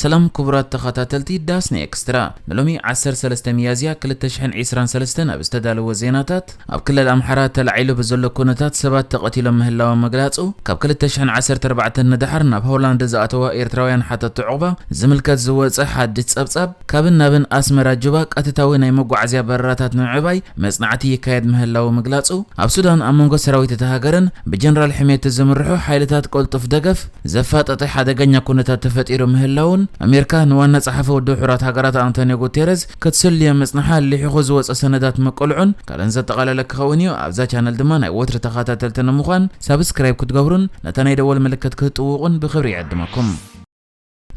ሰላም ክቡራት ተኸታተልቲ ዳስና ኤክስትራ ንሎሚ ዓሰርተ ሰለስተ ሚያዝያ ክልተ ሽሕን ዒስራን ሰለስተን ኣብ ዝተዳለወ ዜናታት ኣብ ክልል ኣምሓራ ተላዒሉ ብዘሎ ኩነታት ሰባት ተቐቲሎም ምህላዎም ምግላፁ ካብ ክልተ ሽሕን ዓሰርተ ኣርባዕተን ንደሓር ናብ ሆላንድ ዝኣተዋ ኤርትራውያን ሓተቲ ዑቕባ ዝምልከት ዝወፀ ሓድሽ ፀብፃብ ካብን ናብን ኣስመራ ጁባ ቀትታዊ ናይ መጓዓዝያ በረራታት ንምዕባይ መፅናዕቲ ይካየድ ምህላዉ ምግላፁ ኣብ ሱዳን ኣብ መንጎ ሰራዊት እታ ሃገርን ብጀነራል ሕሜቲ ዝምርሑ ሓይልታት ቅልጡፍ ደገፍ ዘፋጠጠ ሓደገኛ ኩነታት ተፈጢሩ ምህላዉን ኣሜርካ ንዋና ጸሓፊ ውድብ ሕቡራት ሃገራት ኣንቶንዮ ጉቴረዝ ክትስልዮ ምጽንሓ ሊሒኹ ዝወጸ ሰነዳት ምቅልዑን ካልእን ዘጠቓለለ ክኸውን እዩ ኣብዛ ቻነል ድማ ናይ ወትሪ ተኻታተልቲ ንምዃን ሳብስክራይብ ክትገብሩን ነታ ናይ ደወል ምልክት ክትጥውቑን ብኽብሪ ይዕድመኩም።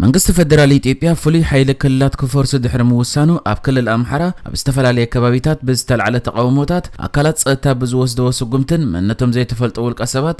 መንግስቲ ፈደራል ኢትዮጵያ ፍሉይ ሓይሊ ክልላት ክፈርሱ ድሕሪ ምውሳኑ ኣብ ክልል ኣምሓራ ኣብ ዝተፈላለየ ከባቢታት ብዝተልዓለ ተቓውሞታት ኣካላት ጸጥታ ብዝወስደዎ ስጉምትን መንነቶም ዘይተፈልጡ ውልቀ ሰባት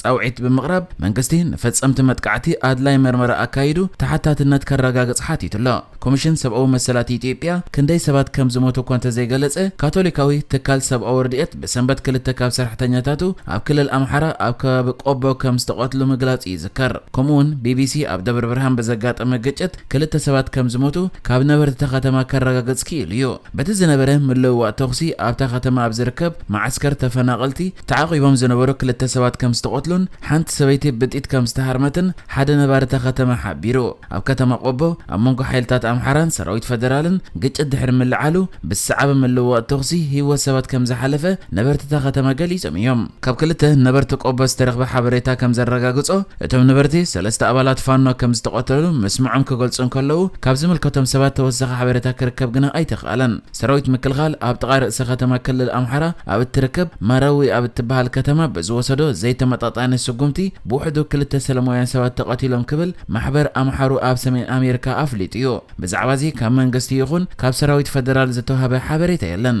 ፃውዒት ብምቕራብ መንግስቲ ንፈፀምቲ መጥቃዕቲ ኣድላይ መርመራ ኣካይዱ ተሓታትነት ከረጋግፅ ሓቲቱ ኣሎ። ኮሚሽን ሰብኣዊ መሰላት ኢትዮጵያ ክንደይ ሰባት ከም ዝሞቱ እኳ እንተዘይገለፀ፣ ካቶሊካዊ ትካል ሰብኣዊ ረድኤት ብሰንበት ክልተ ካብ ሰራሕተኛታቱ ኣብ ክልል ኣምሓራ ኣብ ከባቢ ቆቦ ከም ዝተቐትሉ ምግላፁ ይዝከር። ከምኡ'ውን ቢቢሲ ኣብ ደብረብርሃን ብዘጋጠመ ግጭት ክልተ ሰባት ከም ዝሞቱ ካብ ነበርቲ እታ ከተማ ከረጋግፅ ክኢሉ እዩ። በቲ ዝነበረ ምልውዋጥ ተኹሲ ኣብታ ከተማ ኣብ ዝርከብ መዓስከር ተፈናቐልቲ ተዓቚቦም ዝነበሩ ክልተ ሰባት ከም ዝተቐትሉን ሓንቲ ሰበይቲ ብጢት ከም ዝተሃርመትን ሓደ ነባሪ እታ ከተማ ሓቢሩ። ኣብ ከተማ ቆቦ ኣብ መንጎ ሓይልታት ኣምሓራን ሰራዊት ፈደራልን ግጭት ድሕሪ ምልዓሉ ብዝሰዓበ ምልውዋጥ ተኹሲ ህይወት ሰባት ከም ዝሓለፈ ነበርቲ እታ ከተማ ገሊጾም እዮም። ካብ ክልተ ነበርቲ ቆቦ ዝተረኽበ ሓበሬታ ከም ዘረጋግጾ፣ እቶም ነበርቲ፣ ሰለስተ ኣባላት ፋኖ ከም ዝተቐተሉ ምስምዖም ክገልጹ እንከለዉ፣ ካብ ዝምልከቶም ሰባት ተወሳኺ ሓበሬታ ክርከብ ግና ኣይተኽኣለን። ሰራዊት ምክልኻል፣ ኣብ ጥቓ ርእሰ ከተማ ክልል ኣምሓራ ኣብ እትርከብ ማረዊ ኣብ እትበሃል ከተማ ብዝወሰዶ ዘይተመጣጣኒ ስጉምቲ፣ ብውሕዱ ክልተ ሰለማውያን ሰባት ተቐቲሎም ክብል ማሕበር ኣምሓሩ ኣብ ሰሜን ኣሜሪካ ኣፍሊጡ'ዩ። ብዛዕባ'ዚ ካብ መንግስቲ ይኹን ካብ ሰራዊት ፈደራል ዝተውሃበ ሓበሬታ የለን።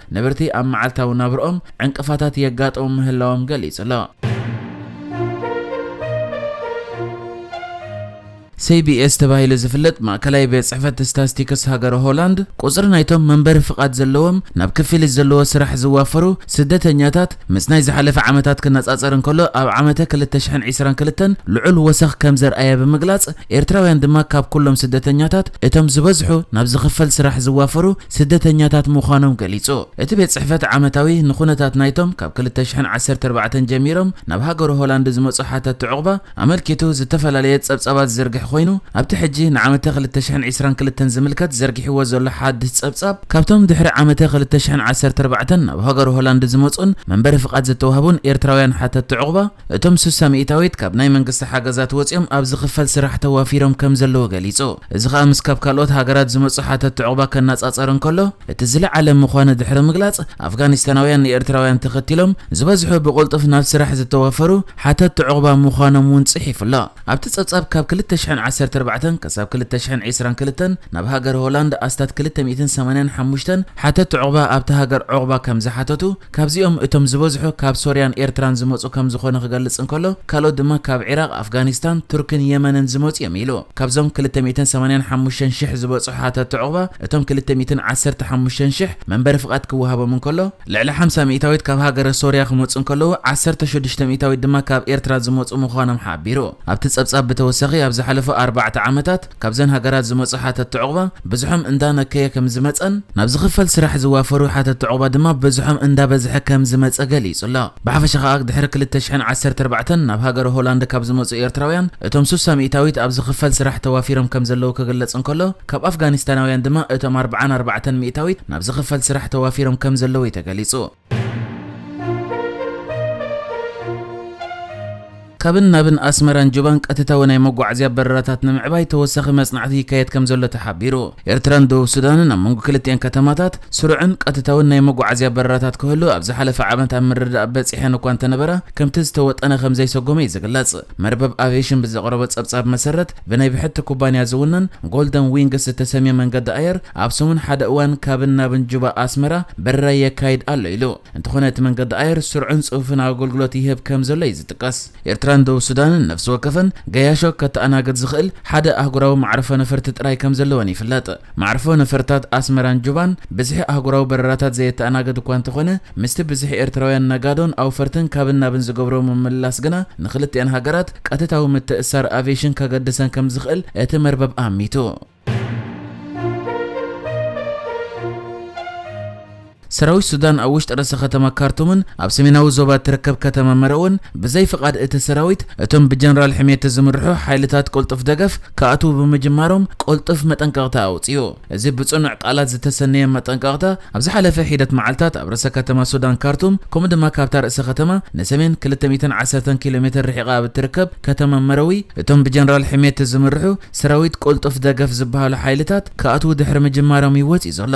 ነበርቲ ኣብ መዓልታዊ ናብርኦም ዕንቅፋታት የጋጥሙ ምህላዎም ገሊጹ'ሎ። CBS ተባሂሉ ዝፍለጥ ማእከላይ ቤት ጽሕፈት ስታስቲክስ ሃገረ ሆላንድ፣ ቁጽሪ ናይቶም መንበሪ ፍቓድ ዘለዎም ናብ ክፍሊት ዘለዎ ስራሕ ዝዋፈሩ ስደተኛታት ምስ ናይ ዝሓለፈ ዓመታት ክነጻጸር እንከሎ ኣብ ዓመተ ክልተ ሽሕን ዒስራን ክልተን ልዑል ወሰኽ ከም ዘርኣየ ብምግላጽ፣ ኤርትራውያን ድማ ካብ ኩሎም ስደተኛታት እቶም ዝበዝሑ ናብ ዝኽፈል ስራሕ ዝዋፈሩ ስደተኛታት ምዃኖም ገሊጹ። እቲ ቤት ጽሕፈት ዓመታዊ ንኩነታት ናይቶም ካብ ክልተ ሽሕን ዓሰርተ ኣርባዕተን ጀሚሮም ናብ ሃገረ ሆላንድ ዝመጹ ሓተቲ ዑቕባ ኣመልኪቱ ዝተፈላለየ ጸብጻባት ዝዝርግሕ ኮይኑ ኣብቲ ሕጂ ንዓመተ ክልተ ሽሕን ዕስራን ክልተን ዝምልከት ዘርጊሕዎ ዘሎ ሓድስ ጸብጻብ ካብቶም ድሕሪ ዓመተ ክልተ ሽሕን ዓሰርተ ኣርባዕተን ናብ ሃገረ ሆላንድ ዝመጹን መንበሪ ፍቓድ ዝተዋህቡን ኤርትራውያን ሓተቲ ዑቕባ እቶም ስሳ ሚእታዊት ካብ ናይ መንግስቲ ሓገዛት ወጺኦም ኣብ ዝኽፈል ስራሕ ተዋፊሮም ከምዘለዉ ገሊጹ። እዚ ከኣ ምስ ካብ ካልኦት ሃገራት ዝመጹ ሓተቲ ዑቕባ ከናጻጸር እንከሎ እቲ ዝለዓለ ምዃኑ ድሕሪ ምግላጽ፣ ኣፍጋኒስታናውያን ንኤርትራውያን ተኸቲሎም ዝበዝሑ ብቕልጡፍ ናብ ስራሕ ዝተዋፈሩ ሓተቲ ዑቕባ ምዃኖም'ውን ጽሒፉ ኣሎ። ኣብቲ ጸብጻብ ካብ ክልተ ሽሕን ዓሰርተ ኣርባዕተን ከሳብ ክልተ ሽሕን ዒስራን ክልተን ናብ ሃገር ሆላንድ ኣስታት ክልተ ሚእትን ሰማንያን ሓሙሽተን ሓተቲ ዑቕባ ኣብታ ሃገር ዑቕባ ከምዝሓተቱ ካብዚኦም እቶም ዝበዝሑ ካብ ሶርያን ኤርትራን ዝመጹ ከም ዝኾነ ክገልጽ እንከሎ፣ ካልኦት ድማ ካብ ዒራቕ፣ ኣፍጋኒስታን፣ ቱርክን የመንን ዝመጹ እዮም ኢሉ። ካብዞም ክልተ ሚእትን ሰማንያን ሓሙሽተን ሽሕ ዝበጽሑ ሓተትቲ ዑቕባ፣ እቶም ክልተ ሚእትን ዓሰርተ ሓሙሽተን ሽሕ መንበሪ ፍቓድ ክወሃቦም እንከሎ፣ ልዕሊ ሓምሳ ሚእታዊት ካብ ሃገረ ሶርያ ክመጹ እንከለዉ፣ ዓሰርተ ሽዱሽተ ሚእታዊት ድማ ካብ ኤርትራ ዝመጹ ምዃኖም ሓቢሩ። ኣብቲ ጸብጻብ ብተወሳኺ፣ ኣብ ዝሓለፉ ኣርባዕተ ዓመታት፣ ካብዘን ሃገራት ዝመጹ ሓተቲ ዑቕባ ብዝሖም እንዳነከየ ከምዝመጸን ናብ ዝኽፈል ስራሕ ዝዋፈሩ ሓተቲ ዑቕባ ድማ ብዝሖም እንዳበዝሐ ከምዝመጸ ገሊጹ'ሎ። ብሓፈሻ ከኣ ድሕሪ ክልተ ሽሕን ዓሰርተ ኣርባዕተን ናብ ሃገረ ሆላንድ ካብ ዝመጹ ኤርትራውያን እቶም ሱሳ ሚእታዊት ኣብ ዝኽፈል ስራሕ ተዋፊሮም ከምዘለዉ ክግለጽ እንከሎ ካብ ኣፍጋኒስታናውያን ድማ እቶም ኣርብዓን ኣርባዕተን ሚእታዊት ናብ ዝኽፈል ስራሕ ተዋፊሮም ከምዘለዉ'ዩ ተገሊጹ። ካብን ናብን ኣስመራን ጁባን ቀጥታዊ ናይ መጓዓዝያ በረራታት ንምዕባይ ተወሳኺ መጽናዕቲ ይካየድ ከምዘሎ ተሓቢሩ። ኤርትራን ደቡብ ሱዳንን ኣብ መንጎ ክልቲኣን ከተማታት ስሩዕን ቀጥታውን ናይ መጓዓዝያ በረራታት ክህሉ ኣብ ዝሓለፈ ዓመት ኣብ ምርድዳእ በጺሐን እኳ እንተነበራ ከምቲ ዝተወጠነ ከምዘይሰጎመ'ዩ ዝግለጽ። መርበብ ኣቬሽን ብዘቕረቦ ጸብጻብ መሰረት ብናይ ብሕቲ ኩባንያ ዝውነን ጎልደን ዊንግስ ዝተሰምየ መንገዲ ኣየር ኣብ ሰሙን ሓደ እዋን ካብን ናብን ጁባ ኣስመራ በረራ የካይድ ኣሎ ኢሉ። እንተኾነ እቲ መንገዲ ኣየር ስርዑን ጽፉፍን ኣገልግሎት ይህብ ከም ዘሎ'ዩ ዝጥቀስ። ኤርትራን ደቡብ ሱዳንን ነፍሲ ወከፈን ገያሾ ከተኣናግድ ዝኽእል ሓደ ኣህጉራዊ መዓርፎ ነፈርቲ ጥራይ ከም ዘለወን ይፍለጥ። መዓርፎ ነፈርታት ኣስመራን ጁባን ብዝሒ ኣህጉራዊ በረራታት ዘየተኣናገድ እኳ እንተኾነ፣ ምስቲ ብዝሒ ኤርትራውያን ነጋዶን ኣውፈርትን ካብን ናብን ዝገብሮ ምምልላስ ግና ንኽልቲኣን ሃገራት ቀጥታዊ ምትእስሳር ኣቪየሽን ከገድሰን ከም ዝኽእል እቲ መርበብ ኣሚቱ። ሰራዊት ሱዳን ኣብ ውሽጢ ርእሰ ከተማ ካርቱምን ኣብ ሰሜናዊ ዞባ እትርከብ ከተማ መርዕውን ብዘይ ፍቓድ እቲ ሰራዊት እቶም ብጀነራል ሕምየቲ ዝምርሑ ሓይልታት ቅልጡፍ ደገፍ ክኣትዉ ብምጅማሮም ቅልጡፍ መጠንቀቕታ ኣውጺኡ። እዚ ብጽኑዕ ቃላት ዝተሰነየ መጠንቀቕታ ኣብ ዝሓለፈ ሒደት መዓልታት ኣብ ርእሰ ከተማ ሱዳን ካርቱም ከምኡ ድማ ካብታ ርእሰ ከተማ ንሰሜን ክልተ ሚእትን ዓሰርተን ኪሎ ሜተር ርሒቓ ኣብ እትርከብ ከተማ መርዊ እቶም ብጀነራል ሕምየቲ ዝምርሑ ሰራዊት ቅልጡፍ ደገፍ ዝበሃሉ ሓይልታት ክኣትዉ ድሕሪ ምጅማሮም እዩ ወጺኡ ዘሎ።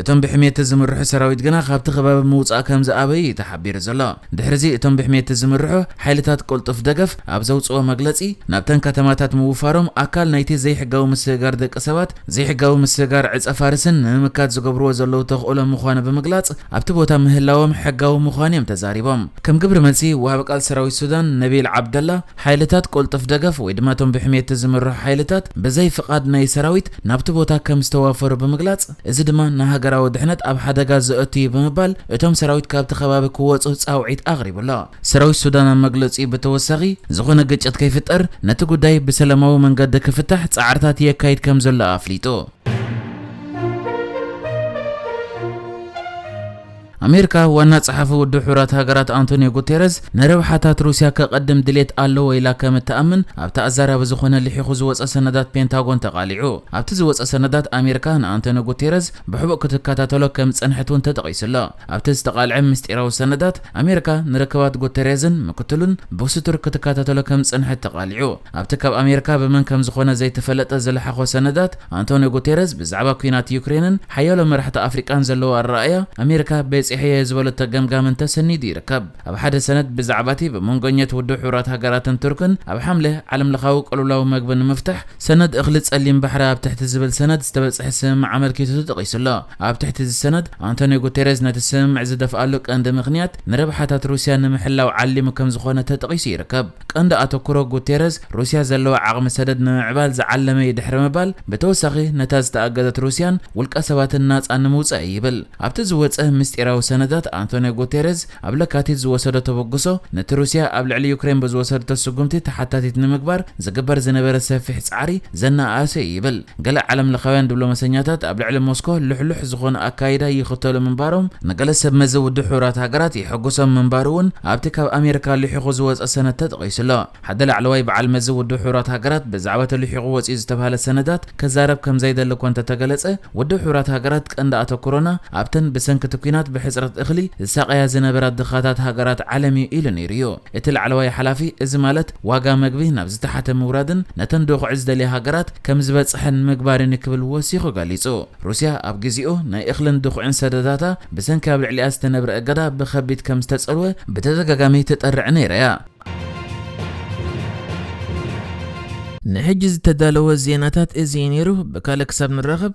እቶም ብሕሜቲ ዝምርሑ ሰራዊት ግና ካብቲ ከባቢ ምውጻእ ከምዝኣበዩ እዩ ተሓቢሩ ዘሎ። ድሕሪዚ እቶም ብሕሜቲ ዝምርሑ ሓይልታት ቅልጡፍ ደገፍ ኣብ ዘውጽእዎ መግለጺ፣ ናብተን ከተማታት ምውፋሮም ኣካል ናይቲ ዘይሕጋዊ ምስግጋር ደቂ ሰባት፣ ዘይሕጋዊ ምስግጋር ዕጸፋርስን ንምምካት ዝገብርዎ ዘለዉ ተኽእሎ ምዃኑ ብምግላጽ፣ ኣብቲ ቦታ ምህላዎም ሕጋዊ ምዃኑ እዮም ተዛሪቦም። ከም ግብሪ መልሲ፣ ወሃቢ ቃል ሰራዊት ሱዳን ነቢል ዓብደላ፣ ሓይልታት ቅልጡፍ ደገፍ ወይ ድማ እቶም ብሕሜቲ ዝምርሑ ሓይልታት ብዘይ ፍቓድ ናይ ሰራዊት ናብቲ ቦታ ከምዝተዋፈሩ ብምግላጽ፣ እዚ ድማ ንሃገራዊ ድሕነት ኣብ ሓደጋ ዘእቱ እዩ ብምባል እቶም ሰራዊት ካብቲ ከባቢ ክወጹ ጻውዒት ኣቕሪቡ ኣሎ። ሰራዊት ሱዳን ኣብ መግለጺኡ ብተወሳኺ ዝኾነ ግጭት ከይፍጠር ነቲ ጉዳይ ብሰለማዊ መንገዲ ክፍታሕ ጻዕርታት የካይድ ከምዘሎ ኣፍሊጡ። ኣሜሪካ፣ ዋና ጸሓፊ ውድብ ሕቡራት ሃገራት ኣንቶንዮ ጉቴረዝ፣ ንረብሓታት ሩስያ ከቐድም ድሌት ኣለዎ ኢላ ከም እትኣምን ኣብቲ ኣዛራቢ ዝኾነ ልሒኹ ዝወጸ ሰነዳት ፔንታጎን ተቓሊዑ። ኣብቲ ዝወጸ ሰነዳት፣ ኣሜሪካ ንኣንቶንዮ ጉቴረዝ ብሕቡእ ክትከታተሎ ከም ዝጸንሐት እውን ተጠቒሱ ኣሎ። ኣብቲ ዝተቓልዐ ምስጢራዊ ሰነዳት፣ ኣሜሪካ ንርክባት ጉቴሬዝን ምክትሉን ብስቱር ክትከታተሎ ከም ዝጸንሐት ተቓሊዑ። ኣብቲ ካብ ኣሜሪካ ብመን ከም ዝኾነ ዘይተፈለጠ ዝለሓኾ ሰነዳት፣ ኣንቶንዮ ጉቴረዝ ብዛዕባ ኲናት ዩክሬንን ሓያሎ መራሕቲ ኣፍሪቃን ዘለዎ ኣረኣእያ፣ ኣሜሪካ በጺሐዮ ዝበለቶ ገምጋምን ተሰኒዱ ይርከብ። ኣብ ሓደ ሰነድ ብዛዕባ'ቲ ብመንጎኘት ውድብ ሕቡራት ሃገራትን ቱርክን ኣብ ሓምለ ዓለምለኻዊ ቅልውላው መግቢ ንምፍታሕ ሰነድ እኽሊ ጸሊም ባሕሪ ኣብ ትሕቲ ዝብል ሰነድ ዝተበጽሐ ስምምዕ ኣመልኪቱ ተጠቒሱ ኣሎ። ኣብ ትሕቲ እዚ ሰነድ፣ ኣንቶንዮ ጉቴረዝ ነቲ ስምምዕ ዝደፍኣሉ ቀንዲ ምኽንያት ንረብሓታት ሩስያ ንምሕላው ዓሊሙ ከምዝኾነ ተጠቒሱ ይርከብ። ቀንዲ ኣተኩሮ ጉቴረዝ፣ ሩስያ ዘለዋ ዓቕሚ ሰደድ ንምምዕባል ዝዓለመ'ዩ ድሕሪ ምባል፣ ብተወሳኺ ነታ ዝተኣገዘት ሩስያን ውልቀሰባትን ናጻ ንምውጻእ'ዩ ይብል። ኣብቲ ዝወጸ ምስጢራዊ ሰነዳት፣ ኣንቶንዮ ጉቴረዝ ኣብ ለካቲት ዝወሰዶ ተበግሶ፣ ነቲ ሩስያ ኣብ ልዕሊ ዩክሬን ብዝወሰደቶ ስጉምቲ ተሓታቲት ንምግባር ዝግበር ዝነበረ ሰፊሕ ጻዕሪ ዘነኣኣሰ'ዩ ይብል። ገለ ዓለምለኻውያን ድብሎመሰኛታት ኣብ ልዕሊ ሞስኮ ልሕሉሕ ዝኾነ ኣካይዳ ይኽተሉ ምንባሮም ንገለ ሰብመዚ ውድብ ሕቡራት ሃገራት የሐጉሶም ምንባሩ'ውን ኣብቲ ካብ ኣሜሪካ ልሒኹ ዝወጸ ሰነድ ተጠቒሱ ኣሎ። ሓደ ላዕለዋይ በዓል መዚ ውድብ ሕቡራት ሃገራት ብዛዕባ'ቲ ልሒኹ ወጺኡ ዝተብሃለ ሰነዳት ክዛረብ ከምዘይደሊ እኳ እንተተገለጸ ውድብ ሕቡራት ሃገራት ቀንዲ ኣተኩሮና ኣብተን ብሰንኪ'ቲ ኲናት ብሕጽረት እኽሊ ዝሳቐያ ዝነበራ ድኻታት ሃገራት ዓለም'ዩ ኢሉ ነይሩ'ዩ። እቲ ላዕለዋይ ሓላፊ፣ እዚ ማለት ዋጋ መግቢ ናብ ዝተሓተ ምውራድን ነተን ዶኽዒ ዝደልያ ሃገራት ከምዝበጽሐን ምግባርን'ዩ ክብል ወሲኹ ገሊጹ። ሩስያ ኣብ ግዜኡ ናይ እኽልን ድኹዒን ሰደዳታ ብሰንኪ ኣብ ልዕሊኣ ዝተነብረ እገዳ ብኸቢድ ከምዝተጸልወ ብተደጋጋሚ ትጠርዕ ነይራ'ያ። ንሕጂ ዝተዳለወ ዜናታት እዚ'ዩ ነይሩ፣ ብካልእ ክሳብ ንራኸብ!